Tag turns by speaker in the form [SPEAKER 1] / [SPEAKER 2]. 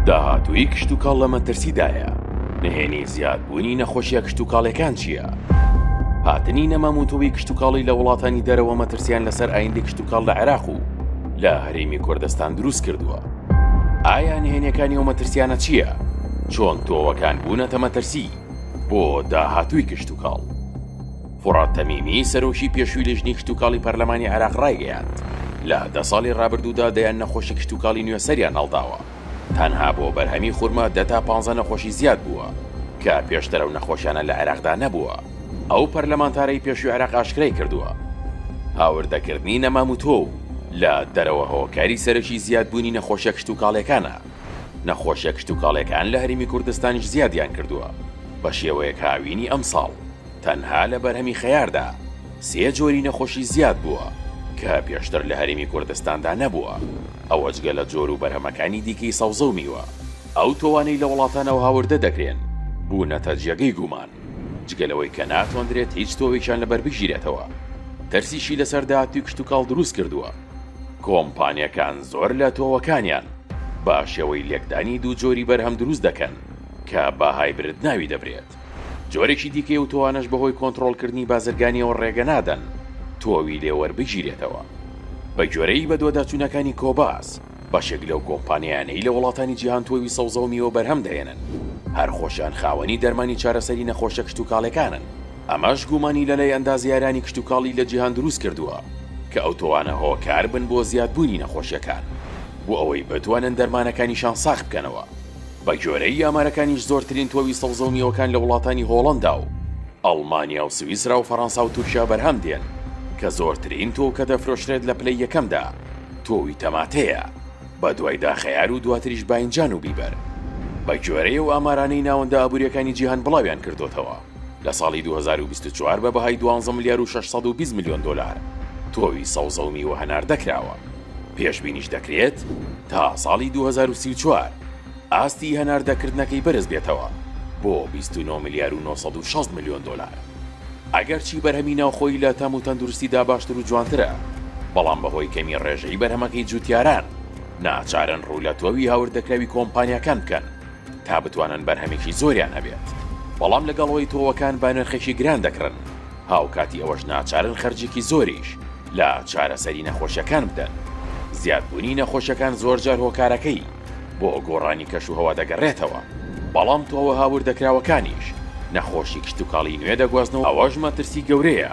[SPEAKER 1] داهاتووی کشتوکاڵ لە مەترسیدایە، نهێنی زیادبوونی نەخۆشیە کشتوکاڵەکان چییە؟ هاتنی نەماموتووی کشتوکاڵی لە وڵاتانی دەرەوە مەترسیان لەسەر ئایندی کشتوکاڵ لە عێراق و لە هەرێمی کوردستان دروست کردووە. ئایا نهێنیەکانی و مەترسیانە چییە؟ چۆن تۆوەکان بوونەتە مەترسی بۆ داهاتووی کشتوکاڵ؟ فورات تەمیمی، سەرۆکی پێشووی لیژنەی کشتوکاڵی پەرلەمانی عێراق ڕایگەیاند، لە دە ساڵی ڕابردوودا دەیان نەخۆشی کشتوکاڵی نوێ سەریان هەڵداوە، تەنها بۆ بەرهەمی خورما دە تا پانزە نەخۆشی زیاد بووە، کە پێشتر ئەو نەخۆشیانە لە عێراقدا نەبووە. ئەو پەرلەمانتارەی پێشووی عێراق ئاشکرایکردووە، هاوردەکردنی نەماموتۆو و لە دەرەوە هۆکاری سەرەکی زیادبوونی نەخۆشیە کشتوکاڵیەکانە، نەخۆشیە کشتوکاڵیەکان لە هەرێمی کوردستانیش زیادیان کردووە، بەشێوەیەک هاوینی ئەمساڵ. تەنها لە بەرهەمی خەیاردا سێ جۆری نەخۆشی زیاد بووە کە پێشتر لە هەرێمی کوردستاندا نەبووە، ئەوە جگە لە جۆر و بەرهەمەکانی دیکەی سەوزە و میوە. ئەو تۆوانەی لە وڵاتانەوە هاوردە دەکرێن بوونەتە جێگەی گومان، جگە لەوەی کە ناتوانرێت هیچ تۆوێکیان لەبەر بگیرێتەوە، ترسیشی لەسەر داهاتووی کشتوکاڵ دروست کردووە. کۆمپانیاکان زۆر لە تۆوەکانیان بە شێوەی لێکدانی دوو جۆری بەرهەم دروست دەکەن کە بە هایبرد ناوی دەبرێت. جۆرێکی دیکەی ئەو تۆوانەش بەهۆی کۆنتڕۆڵکردنی بازرگانییەوە ڕێگە نادەن تۆوی لێ وەربگیرێتەوە. بەگوێرەی بەدواداچوونەکانی کۆباس، بەشێک لەو کۆمپانیایانەی لە وڵاتانی جیهان تۆوی سەوزە و میوە بەرهەم دەهێنن، هەر خۆشیان خاوەنی دەرمانی چارەسەری نەخۆشە کشتوکاڵیەکانن. ئەمەش گومانی لەلای ئەندازیارانی کشتوکاڵی لە جیهان دروست کردووە کە ئەو تۆوانە هۆکار بن بۆ زیادبوونی نەخۆشیەکان بۆ ئەوەی بتوانن دەرمانەکانیشان ساغ بکەنەوە. بەگوێرەی ئامارەکانیش زۆرترین تۆوی سەوزە و میوەکان لە وڵاتانی هۆڵەندا و ئەڵمانیا و سویسرا و فەرەنسا و تورکیا بەرهەم دێن کە زۆرترین تۆو کە دەفرۆشرێت لە پلەی یەکەمدا تۆوی تەماتەیە بەدوایدا خەیار و دواتریش باینجان و بیبەر. بەگوێرەی ئەو ئامارانەی ناوەندە ئابوورییەکانی جیهان بڵاویان کردۆتەوە لە ساڵی دوو هەزار و بیست و چوار بە بەهای دوانزە ملیار و شەش سەد و بیست ملیۆن دۆلار تۆوی سەوزە و میوە هەناردە کراوە. پێشبینیش دەکرێت تا ساڵی دوو هەزار و سی و چوار ئاستی هەناردەکردنەکەی بەرز بێتەوە بۆ بیست و نۆ ملیار و نۆ سەد و شەست ملیۆن دۆلار. ئەگەرچی بەرهەمی ناوخۆیی لە تەم و تەندروستیدا باشتر و جوانترە، بەڵام بەهۆی کەمی ڕێژەیی بەرهەمەکەی جووتیاران ناچارن ڕوو لە تۆوی هاوردەکراوی کۆمپانیاکان بکەن، تا بتوانن بەرهەمێکی زۆریان هەبێت، بەڵام لەگەڵ ئەوەی تۆوەکان بە نرخێکی گران دەکڕن، هاوکاتی ئەوەش ناچارن خەرجێکی زۆریش لە چارەسەری نەخۆشیەکان بدەن، زیادبوونی نەخۆشیەکان زۆرجار هۆکارەکەی بۆ گۆڕانی کەشوهەوا دەگەڕێتەوە، بەڵام تۆوە هاوردەکراوەکانیش نەخۆشی کشتوکاڵی نوێ دەگوازن و ئەوەش مەترسی گەورەیە.